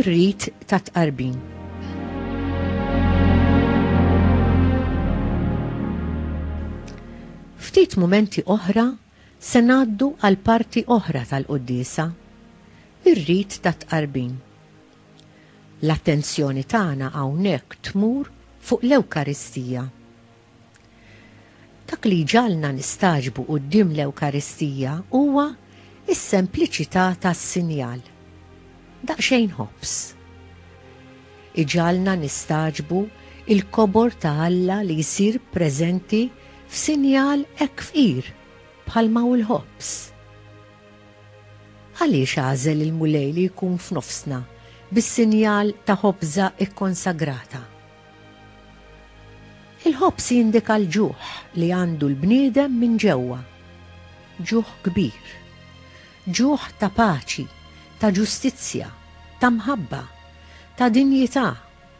ir-rit ta' tqarbin. Ftit mumenti oħra se ngħaddu għal parti oħra tal-qudiesa, ir-rit ta' tqarbin. L-attenzjoni tagħna hawnhekk tmur fuq l-Ewkaristija. Dak li jġagħalna nistagħġbu quddiem l-Ewkaristija huwa s-sempliċità tas-sinjal. Daqsxejn ħobż. Iġagħalna nistagħġbu l-kobor ta' Alla li jsir preżenti f'sinjal hekk fqir bħalma hu l-ħobż. Għaliex għażel il-Mulej li jkun f'nofsna bis-sinjal ta' ħobża kkonsagrata? Il-ħobż jindika l-ġuħ li għandu l-bniedem minn ġewwa. Ġuħ kbir. Ġuħ ta' paċi, ta' ġustizzja, ta' mħabba, ta' dinjità,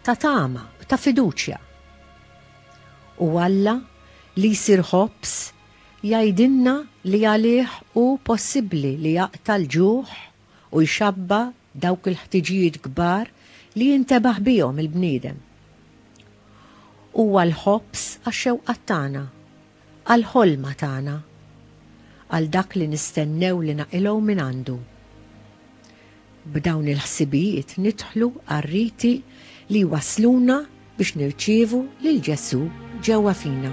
ta' tama u ta' fiduċja. U Alla, li jsir ħobż, Jgħidilna li għalih hu possibbli li jaqta' l-ġuħ u jxabba' dawk il-ħtiġijiet kbar li jintebaħ bihom il-bniedem. Huwa l-ħobż għax-xewqat tagħna, għall-ħolma tagħna, għal dak li nistennew li naqilgħu mingħandu. B'dawn il-ħsibijiet nidħlu għar-riti li jwassluna biex nirċievu lil Ġesù ġewwa fina.